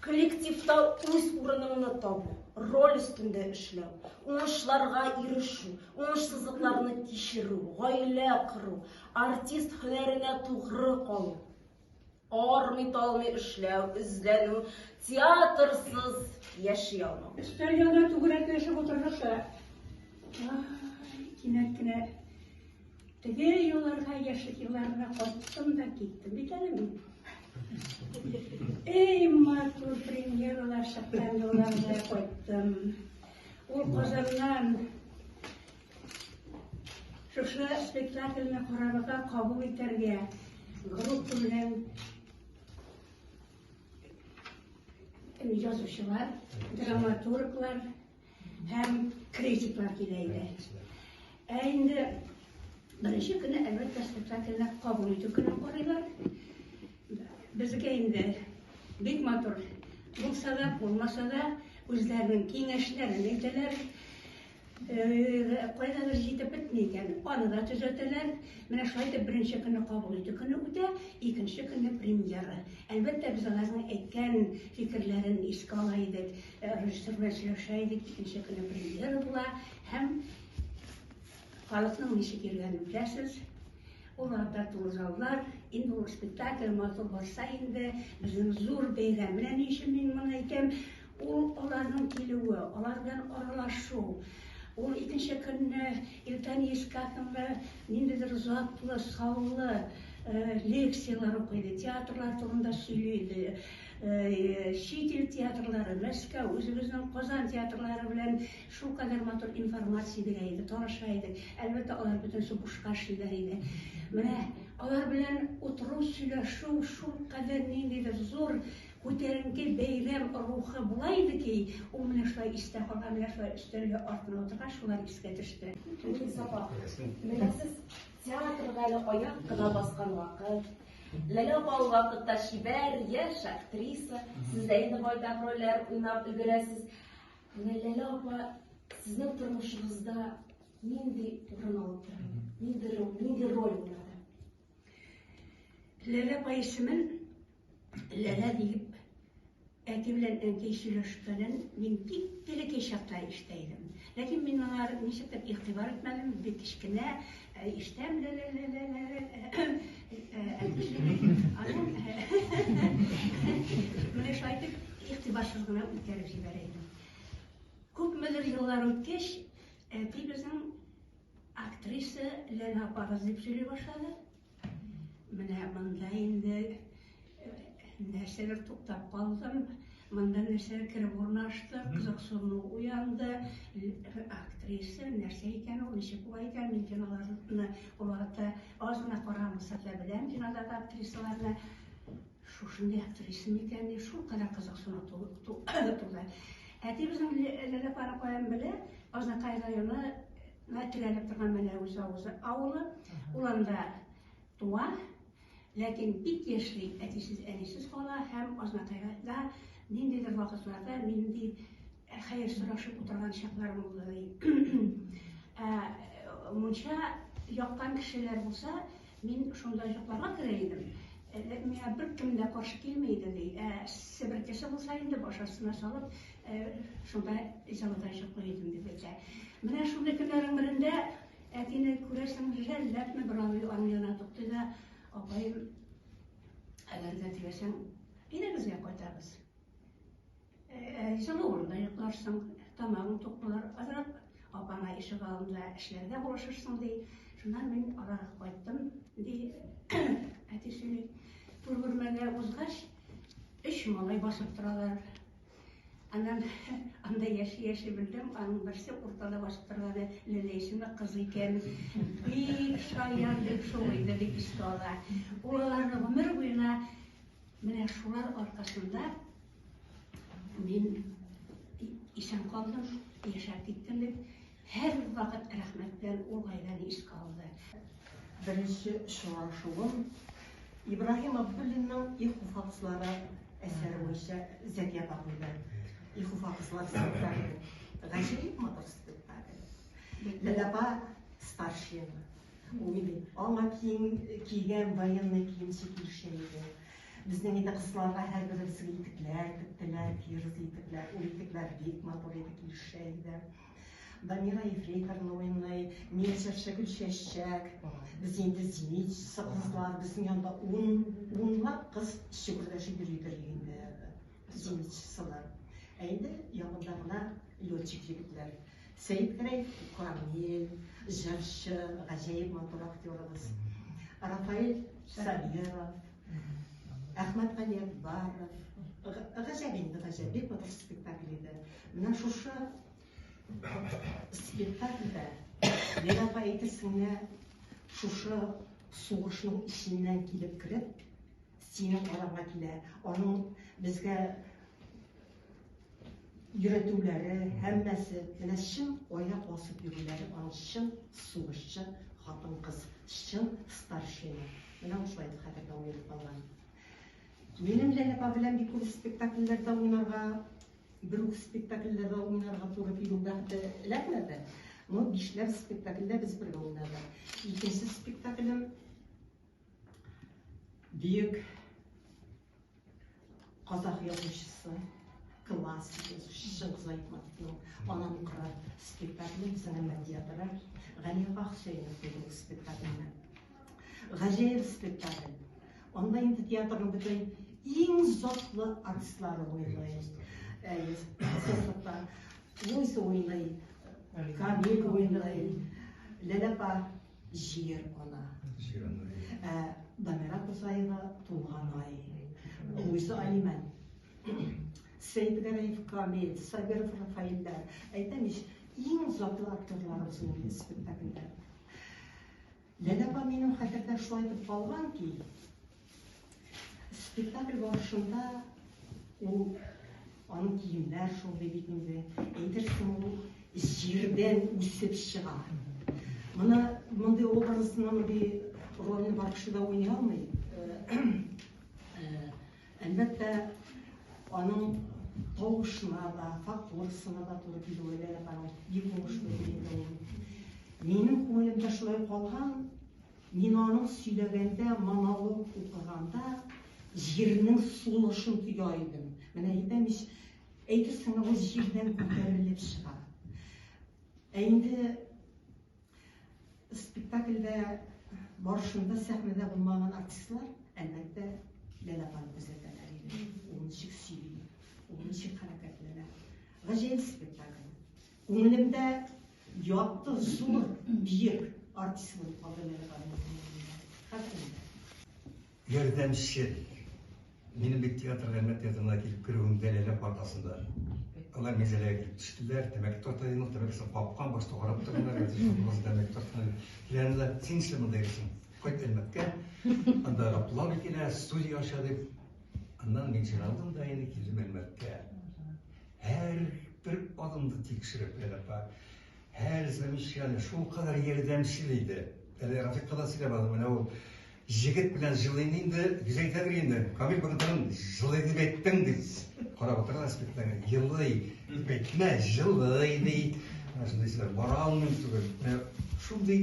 Коллективта үз урыныңны табу, роль өстендә эшләү, уңышларга ирешү, уңышсызлыкларны кичерү, гаилә кору, артист һөнәренә тугры калу, армый-талмый эшләү, эзләнү, театрсыз яши алмау. Өстәл янында түгәрәкләшеп утырдык та, ай, кинәт кенә Теге елларга, яшьлек елларына кайттым да киттем бит әле мин. Эй, матур премьералар чыккан елларга кайттым. Ул Казаннан шушы спектакльне карарга кабул итәргә группа белән язучылар, драматурглар Һәм критиклар килә иде. Ә инде беренче көне әлбәттә спектакльне кабул итү көне карыйлар. Безгә инде бик матур булса да, булмаса да үзләренең киңәшләрен әйтәләр. Кайда бер җитеп бетми икән, аны да төзәтәләр. Менә шулай итеп беренче көнне кабул итү көне үтә, икенче көнне премьера. Әлбәттә, без аларның әйткән фикерләрен искә ала идек. Режиссер белән сөйләшә идек, икенче көнне премьера була һәм халыкның ничек йөргәнен беләсез. Ул арада тулы заллар, инде ул спектакль матур барса инде, безнең зур бәйрәм. Менә ни өчен мин моны әйтәм, ул аларның килүе, алар белән аралашу, ул икенче көнне иртән искә хәтле ниндидер затлы, саллы лекцияләр укый иде, театрлар турында сөйли иде. Чит ил театрлары, Мәскәү, үзебезнең Казан театрлары белән шулкадәр матур информация бирә иде, таныша идек. Әлбәттә, алар бөтенесе бушка эшлиләр иде. Менә алар белән утыру, сөйләшү шулкадәр ниндидер зур күтәренке бәйрәм рухы була иде ки, ул менә шулай истә калган, менә шулай өстәлгә артына утыргач, шулар искә төште. Мин Сафа. Менә сез Театрга әле аяк кына баскан вакыт. Ләлә апа ул вакытта чибәр, яшь актриса. Сез дә инде байтак рольләр уйнап өлгерәсез. Менә Ләлә апа сезнең тормышыгызда нинди урын алып тора? Нинди роль, нинди роль уйнады? Ләлә апа исемен Ләлә диеп, әти белән әнкәй сөйләшкәнен мин бик телекәй чакта ишетә идем. Ләкин мин моңа ничектер игътибар итмәдем, бик кечкенә э, ишетәм ләлә-ләлә-ләлә. Аннан менә шулай итеп игътибарсыз гына үткәреп җибәрә идем. Күпмедер еллар үткәч, әти безнең актриса Ләлә апагыз дип сөйли башлады. Менә монда инде нәрсәләр туктап калдым. Монда нәрсәләр кереп урнашты, кызыксыну уянды. Актриса нәрсә икән ул, ничек була икән? Мин киноларны олата аз гына карамаса да беләм кинодагы актрисаларны. Шушындый актриса микән? Шул кадәр кызыксыну туды. Әтибезнең Ләләпара каян белә? Азнакай районы Менә төялеп торган Мәләвез авызы авылы. Ул анда туа, ләкин бик яшьли әтисез-әнисез кала һәм Азнакайда ниндидер вакытларда нинди хәер сорашып утырган чакларым булды ди. Ә мунча яккан кешеләр булса, мин шунда йокларга керә идем. Миңа беркем дә каршы килми иде ди. Ә себеркесе булса инде баш астына салып, Шунда җылыдай чыклый идем, дип әйтә. Менә шундый көннәрнең берендә әтине күрәсең, җәлләпме бер абый аның янына тукты да, апаем, әгәр дә теләсәң, өйләгезгә кайтабыз. Җылы урында йокларсың, тамагың тук булыр, азрак апаңа ишек алдында эшләргә булышырсың, ди. Шуннан мин аларга кайттым, ди. Әти сөйли. Түр бүлмәгә узгач, өч малай басып торалар. Аннан анда яши-яши белдем, аның берсе уртада басып торганы Ләлә исемле кыз икән. Бик шаян, бик шул иде, бик искә ала. Ул аларны гомер буена менә шулар аркасында мин исән калдым, яшәп киттем дип Һәр вакыт рәхмәт белән ул гаиләне искә алды. Беренче очрашуым Ибраһим Абдуллинның Иху факслары әсәре буенча Зәки апа куйды. Иху факслары спектакле. Гаҗәеп матур спектакль. Ләлә апа старшина. Ул нинди? Аңа кием кигән военный киемче килешә иде. Безнең инде кызларга һәрберебезгә итекләр тектеләр, тирес итекләр. Ул итекләр бик матур иде, килешә иде. Дамира ефрейторны уйный, мин чыршы гөлчәчәк. Без инде зенитчысы кызлар, безнең янда ун, унлап кыз чөгердәшеп йөридер инде зенитчысылар. Ә инде ягында гына летчик егетләр. Сәйдгәрәй Камил, җырчы, гаҗәеп матур актерыбыз. Рафаэль Сабиров, Әхмәт Галиәкбаров. Гаҗәп инде, гаҗәп. Бик матур спектакль иде. Менә шушы спектакльдә мин апа әйтерсеңә шушы сугышның эченнән килеп кереп, синең карарга килә. Аның безгә йөретүләре, һәммәсе, менә чын аяк басып йөрүләре аның чын сугышчы хатын-кыз, чын старшина. Менә шулай итеп хәтердә уелып калган. Минем Ләләпа белән бик күп спектакльләрдә уйнарга, бер үк спектакльләрдә уйнарга туры килү бәхете эләкмәде. Но бишләп спектакльдә без бергә уйнадык. Икенче спектаклем Бөек Казах язучысы, классик язучысы Чыңгыз Айтматовның Анам кырар спектакле без аны Мәдият Рай, Галиага Хөсәенов бүген спектакльне. Гаҗәеп спектакль. Анда инде театрның бөтен иң затлы артистлары уйный. Әйе, Сосыпта, Луйса уйный, Камил уйный, Ләләпа Җир ана. Җир ана. Ә Дамира Кусаева туган ай. Буйсы Алиман. Сәйдгәрәев Камил, Сабиров Рафаилдә. Әйтәм ич, иң затлы актерларыбыз ул инде спектакльдә. Ләләпа минем хәтердә шулай итеп калган ки, Спектакль барышында ул аның киемнәр шундый бит инде. Әйтерсең ул җирдән үсеп чыга. Моны мондый образны мондый рольне барышында уйный алмый. Әлбәттә, аның тавышына да, фактурасына да туры килүе дә бик уңышлы. Минем күңелемдә шулай калган Мин аның сөйләгәндә, монолог укыганда җирнең сулышын тоя идем. Менә әйтәм ич, әйтерсең лә ул җирдән күтәрелеп чыга. Ә инде спектакльдә барышында сәхнәдә булмаган артистлар, әлбәттә, Ләлә апаны күзәтәләр иде. Ул ничек сөйли, ул ничек хәрәкәтләнә. Гаҗәеп спектакль. Күңелемдә Якты, зур, биек артист булып калды Ләлә ханым. Хәтер инде. Ярдәмче. Минем бит театр Әлмәт театрына килеп керүемдә Ләлә партасында. Алар мәзәләгә килеп төштеләр, тәмәке тарта идем, ул тәмәкесен капкан, башта карап торганнар, әйтәсең, баш тәмәке тартмады. Ләлә, син нишләп монда йөрисең? Кайт Әлмәткә, анда Раплага килә, студия ача дип. Аннан мин җыйналдым да инде килдем Әлмәткә. Һәр бер адымны тикшереп Әләпа һәр замечание шул кадәр ярдәмчел иде. Әле Рафикка да сөйләп алдым, менә ул җегет белән җылыйм инде, бизәйтә бер инде. Камил бакытын җылый дип әйттең ди. Карап утырган аспектларны җылый дип әйтмә, җылый ди. Шундый сүзләр бара алмыйм түгел. Шундый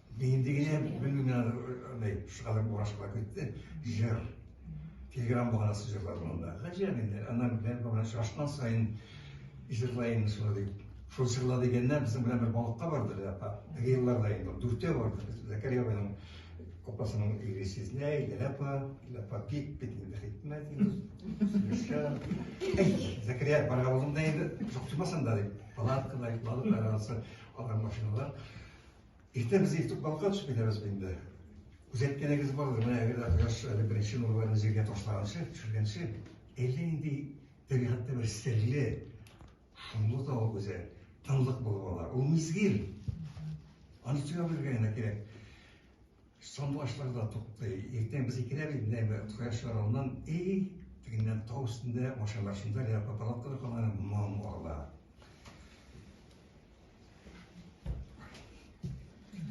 Нинди генә белмим мин аны андай шулай урашып китте. Җыр. Телеграм баганасы җырлады монда. Гаҗәп инде. Аннан белән бабай шашкан сайын җырлайын шулай дип. Шул җырла дигәндә безнең белән бер балыкка барды да апа. Теге елларда инде дүртәү барды. Зәкәрия абайның апасының ире сезнә, Иләлә апа, Иләлә апа бик бит инде хикмәт инде. Сөйләшә. Әй, Зәкәрия барга булдым да инде, шуктымасын да дип. Палаткада йокладык, арасы алар машиналар. Иртә без иртүк калкып төшеп китәбез бит инде. Үз әйткәнегез бардыр, менә әгәр дә кояш әле беренче нурларын җиргә ташлаганчы, төшергәнче, әллә нинди табигатьтә бер серле, шомлы тавык үзе, тынлык булып ала. Ул мизгел. Аны тыңлап белергә генә кирәк. Сандугачлар да туктый. Иртән без икедә бит менә бер кояш чыгар алдан, эй, тегеннән тау өстендә машиналар шунда лә папалаткалар калган моң ала.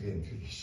Генфиш.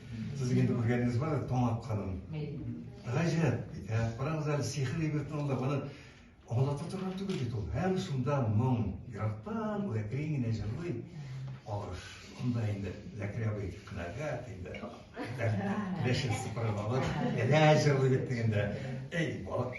Сезнең инде күргәнегез бар, Тамак ханым. Гаҗәп бит, ә? Карагыз әле, сихер ибрәтен анда баны аңлата торган түгел бит ул. Һәм шунда моң, ерактан ул әкрен генә җырлый. Алыш, анда инде Зәкирә абый канәгать инде. Ләшен сыпырып алып, әнә җырлый бит дигәндә, эй, балык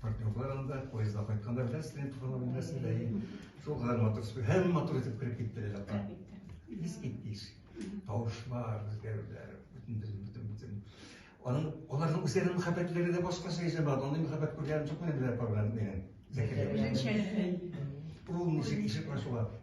Партнерлар анда поезда кайтканда белән студент булганда белмәсен дә ин. Шул гар матур спи. Һәм матур итеп кереп китте лә та. Бис китте. Тавышлар, үзгәрүләр, бүтән бүтән бүтән. Аның аларның үзләренең мәхәббәтләре дә башка шәй җәба. Аны мәхәббәт күргән чакны дә проблем менә. Зәкәр. Үзенчәлекле. Ул ничек ишек ачыла?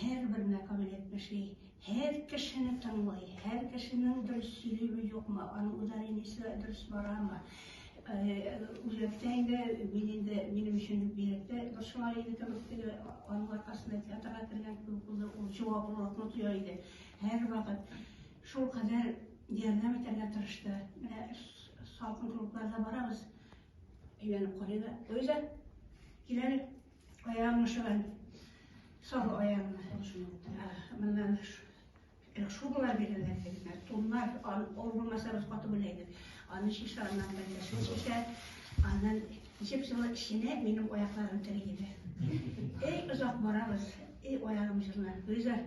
Һәрбер мәкам элеп эшли, һәр кешене тыңлый, һәр кешенең дөрес сөйлиме, юкмы, аның ударениесе дөрес барамы, үзәктә инде мин инде минем өчен бигрәктә борчыла иде кебек теге аның аркасында театрга кергән кебек булды, ул җаваплылыкны тоя иде. Һәрвакыт шулкадәр ярдәм итәргә тырышты. Менә салкын клубларга барабыз, әйләнеп карыйбыз, Луиза, кил әле, Аягымны шумен. Сал аягымны. Моннан шубалар бирәләр дигәннәр. Туннар, ул булмаса без каты белә идек. Аны шиша аннан бәндәшен шиша. Аннан җеп җылы эченә минем аякларым тери иде. Эй, озак барабыз. Эй, аягым җылына. Гөлзар,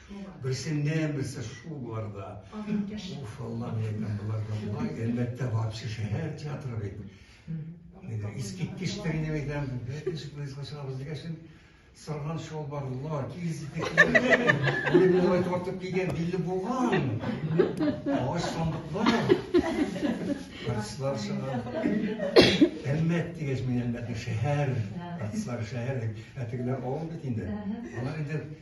Берсендә берсе шул боларда. Уф, Аллам, әйтәм, боларда болай. Әлбәттә, вообще шәһәр театры бит. Искиткеч тәңнәм әйтәм, бәкеш поездга чыгабыз дигәшен, сырган чалбарлар, киез итекләр, үлемнәй тартып кигән билле булган, агач сандыклар, артистлар чыга. Әлмәт дигәч, мин Әлмәтне шәһәр, артистлар шәһәр, ә тегеләр авыл бит инде. Алар инде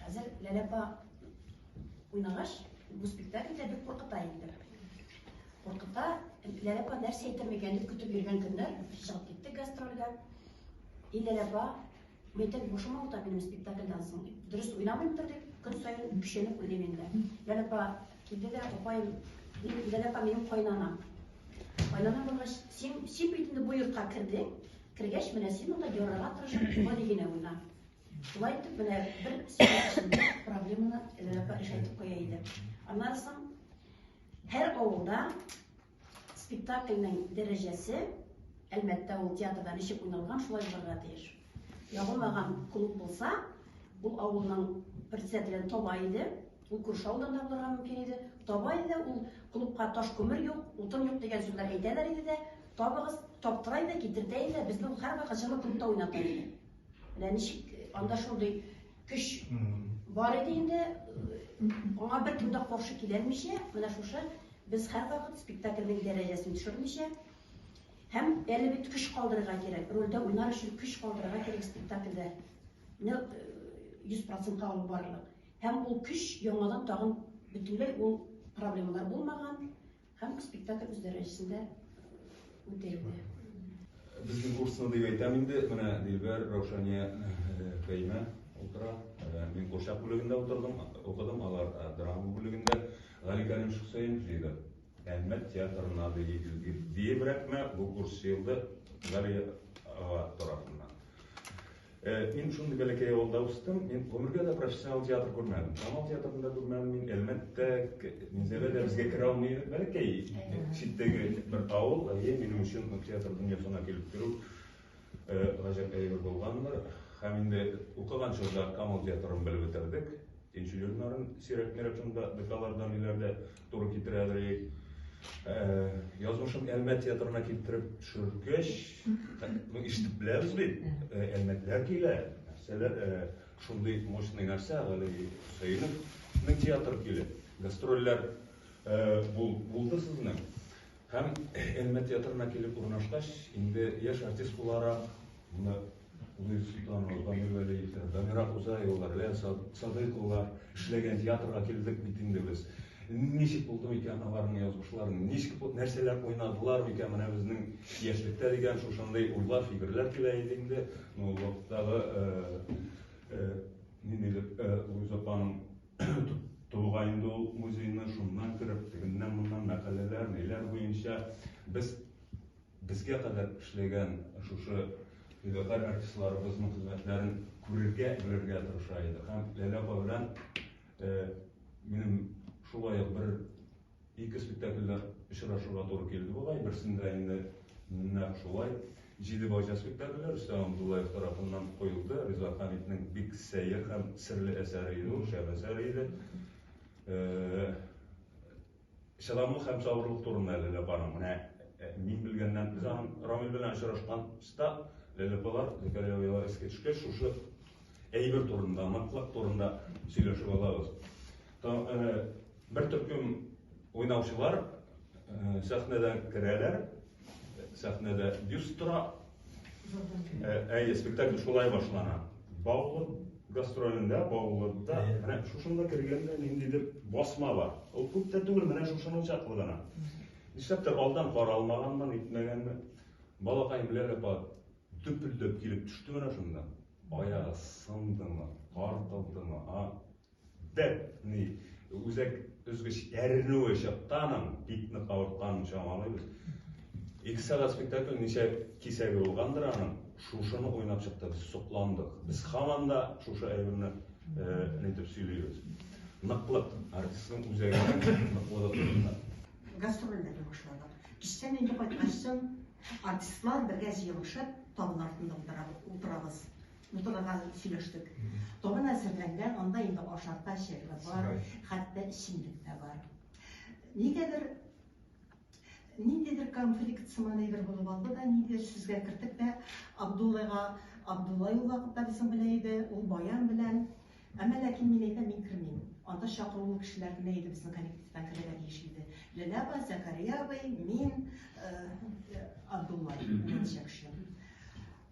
Хәзер Ләлә апа уйнагач, бу спектакль дә бик куркыта инде. Куркыта, Ләлә апа нәрсә әйтер микән дип көтеп йөргән көннәр чыгып китте гастрольгә. И Ләлә апа, мәйтәк бушыма утап минем спектакльдан соң. Дөрес уйнамыймдыр дип, көн саен күченеп уйлыйм инде. Ләлә апа килде дә, апаем, Ләлә апа минем кайнана. Кайнана булгач, син син бит инде бу йортка кердең. Кергәч, менә син монда ярарга тырышып, гади генә уйна. Шулай итеп, менә бер сөйләшүдә проблеманы решайтып куя иде. Аннан соң һәр авылда спектакльнең дәрәҗәсе әлбәттә ул театрда ничек уйналган шулай булырга тиеш. Ябылмаган клуб булса, ул авылның председателен таба иде, ул күрше авылдан да булырга мөмкин иде. Таба иде, ул клубка таш күмер юк, утын юк дигән сүзләр әйтәләр иде дә, табыгыз, таптыра иде, китертә иде, безне ул һәрвакыт җылы клубта уйната иде. Менә ничек анда шундый көч бар иде инде, аңа беркем дә каршы киләлмичә, менә шушы без һәрвакыт спектакльнең дәрәҗәсен төшермичә, һәм әле бит көч калдырырга кирәк, рольдә уйнар өчен көч калдырырга кирәк спектакльдә. Менә 100% алып барырлык. Һәм ул көч яңадан тагын бөтенләй ул проблемалар булмаган, Һәм спектакль үз дәрәҗәсендә үтә инде. Безнең курсны дип әйтәм инде, менә Дилбәр, Раушания, Фәймә утыра. Мин курчак бүлегендә утырдым, укыдым, алар драма бүлегендә. Гали Кәрим Шөхсәен җыйды. Әлмәт театрына диебрәкме бу курс җыелды Гали ага тарафыннан. Мин шундый бәләкәй авылда үстем, мин гомергә дә профессионал театр күрмәдем. Камал театрын да күрмәдем, мин Әлмәттә, Минзәлә дә безгә керә алмый, бәләкәй читтәге бер авыл, әйе, минем өчен театр дөньясына килеп керү гаҗәп әйбер булгандыр. Һәм инде укыган чорда Камал театрын белеп бетердек. Икенче елларын сирәк-мирәк шунда декалардан иләрдә Туры китерә әлег. Язмышын Әлмәт театрына китереп төшеркәч, ну ишетеп беләбез бит. Әлмәтләр килә. Нәрсәләр шундый мощный нәрсә әле Хөсәенов. Ну театр килә. Гастрольләр булды сезнең. Һәм Әлмәт театрына килеп урнашкач, инде яшь артист буларак, Нурсултанова Камилә Ләйсә, Дамира Хузаева, Рәя Садыйкова эшләгән театрга килдек бит инде без. Ничек булды микән аларның язмышлары, ничек нәрсәләр уйнадылар микән менә безнең яшьлектә дигән шушындый уйлар, фикерләр килә иде инде. Ну, вакыттагы нинди дип Луиза апаның тулгай инде ул музейны, шуннан кереп, тегеннән-моннан мәкаләләр, ниләр буенча без Безгә кадәр эшләгән шушы фидакарь артистларыбызның хезмәтләрен күрергә, белергә тырыша идек. Һәм Ләлә апа белән минем шулай ук бер ике спектакльдә очрашырга туры килде бугай. Берсендә инде нәкъ шулай Җиде бакча спектакле Рөстәм Абдуллаев тарафыннан куелды. Риза Хәмитнең бик сәер һәм серле әсәре иде ул, шәп әсәр иде. Чыдамлык һәм сабырлык турында Ләлә апаның, менә мин белгәннән, без аның Рамил белән очрашкан чта, Ләлә апалар, Зәкәрия оялар искә төшкәч, шушы әйбер турында, ныклык турында сөйләшеп алабыз. Бер төркем уйнаучылар сәхнәдән керәләр, сәхнәдә бюст тора, Әйе, спектакль шулай башлана. Баулы гастролендә, Баулыда, менә шушында кергәндә ниндидер басма бар. Ул күп тә түгел, менә шушының чаклы гына. Нишләптер алдан каралмаганмын, итмәгәнме. Балакай белән апа төпелдәп килеп төште менә шунда. Аягы сындымы, картылдымы, а Бер ни үзәк өзгеч әрнүе чыкканын, бик нык авыртканын чамалыйбыз. Ике сәгать спектакль ничә кисәге булгандыр аның, шушыны уйнап чыкты, без сокландык. Без һаман да шушы әйберне нитеп сөйлибез. Ныклык, артистның үзәгенең ныклыгы турында. Гастрольләрне башладык. Кичтән инде кайткачтын артистлар бергә җыелышып табын артында утырабыз. Утырырга сөйләштек. Табын әзерләнгән, анда инде ашарга чәйләр бар, хәтта эчемлек тә бар. Нигәдер ниндидер конфликт сыман әйбер булып алды да, нидер сүзгә кертеп тә Абдуллага, Абдулла ул вакытта безнең белән иде, ул баян белән Әмма ләкин мин әйтәм, мин кермим. Анда чакырулы кешеләр генә иде безнең коллективтан керергә тиеш иде. Ләлә апа, Зәкәрия абый, мин, э, Абдулла, берничә кеше.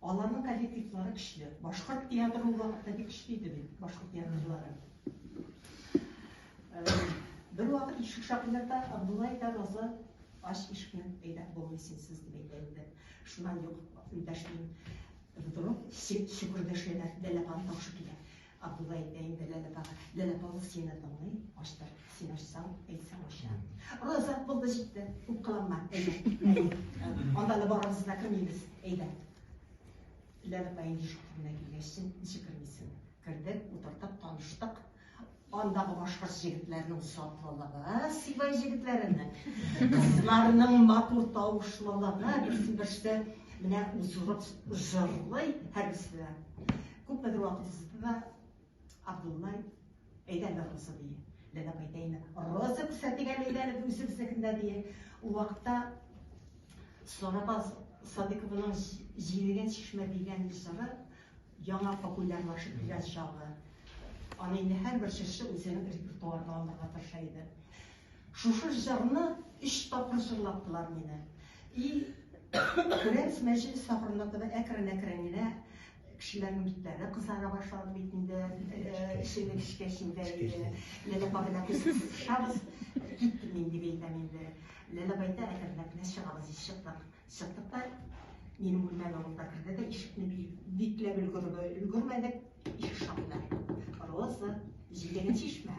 Аларның коллективлары көчле. Башкорт театры ул вакытта бик көчле иде бит, башкорт театрлары. Бервакыт ишек шакыйнарда Абдулай да Роза ач ишкән әйдә булмый синсез дип әйтә иде. Шуннан юк, дәшмим. Вдруг сикүрдәшенә дәләпан тапшы килә. Абдулла әйтә инде, Ләлә апага. Ләлә апа ул сине тыңлый, ачтыр. Син ачсаң, әйтсәң ача. Роза, булды җитте, үпкәләнмә. Әйе, анда да барабыз да кермибез. Әйдә. Ләлә апа инде ишек төбенә килгәч, ничек кермисең? Кердек, утырдык, таныштык. Андагы башкорт җегетләренең сафлылыгы, сибай җегетләренең, кызларның матур тавышлылыгы, берсен-берсе менә узырып җырлый һәрберсе. Күпмедер вакыт узды да Абдуллай, әйдә әле Роза, ди. Ләбәк әйтәйме? Роза күрсәтик әле, әйдә әле үзебезнекендә, ди. Ул вакытта Сарабаз Садыковның җилеген чишмә дигән мисыры яңа популярлашып килгән чагы. Аны инде һәрбер җырчы үзенең репертуарына алырга тырыша иде. Шушы җырны өч тапкыр җырлаттылар мине. И, Күрәмс мәҗлес ахырына таба әкрен-әкрен генә Кешеләрнең битләре кызара башлады бит инде, эшебез эчкә сеңгән иде. Ләлә апабызны күрсәтеп кушабыз. Киттем мин дип әйтәм инде. Ләлә апа әйтә, әкренләп кенә чыгабыз дип чыктык. Чыктык та минем бүлмәгә ул да керде дә ишекне бикләп өлгермәдек, ишек шакыды. Роза, җидегенче чишмә.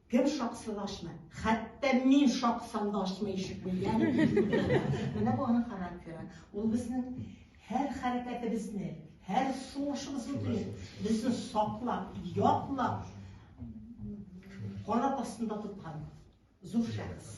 Кем шаксын ачмый? Хәтта мин шаксам да ачмый ишек белгән. Менә бу аның характеры. Ул безнең һәр хәрәкәтебезне, һәр сулышыбызны белә. Безне саклап, яклап, канат астында тоткан зур шәхес.